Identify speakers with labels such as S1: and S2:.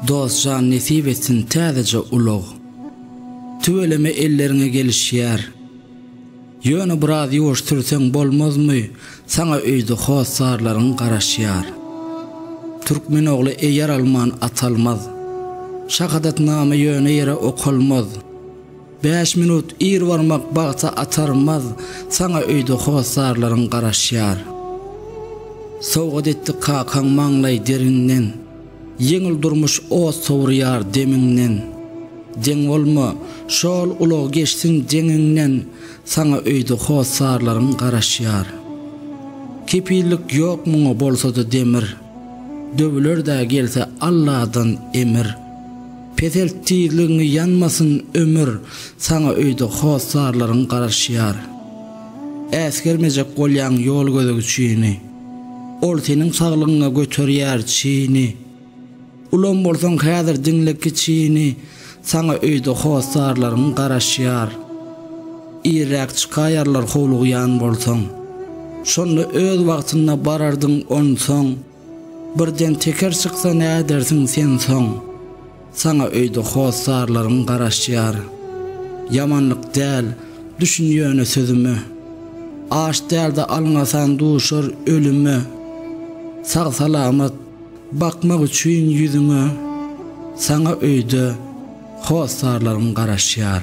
S1: Dost jan nesip etsin täzeje ulag. Tüweleme elleriňe gelişýär. Ýöne biraz ýuwaş sürseň bolmazmy saňa öýde hossarlaryň garaşýar. Türkmen ogly eýer alman atalmaz. Şahadatnama ýöne ýere okalmaz. Bäş minut ir barmak bagta atarmaz, Saňa öýde hossarlaryň garaşýar. Sowgat etdi kakaň maňlaý derinden, Ýeňil durmuş ot sowurýar demiňden. Deň bolma, şol ulag geçsin deňiňden, Saňa öýde hossarlaryň garaşýar. Kepillik ýok muňa bolsada demir. Döwülerdä gelse Alladan emir. Peselt tizligiňi ýanmasyn ömür Saňa öýde hossarlaryň garaşýar. Äsgermejek bolýaň ýol gözegçini. Ol seniň saglygyňa göterýär çini. Ulam bolsaň häzir diňle kiçini saňa öýde hossarlaryň garaşýar. Irräk çykaýarlar howlugýan bolsaň. Şonda öz wagtynda barardyň onsoň. Birden teker çyksa nädersiň sen soň. Saňa öýde hossarlaryň garaşýar. Ýamanlyk däl, düşün ýöne sözüme. Aç dälde alňasan duşar ölüme. Sag-salamat. Bakmak üçin ýüzüňe Saňa öýde hossarlarym garaşýar.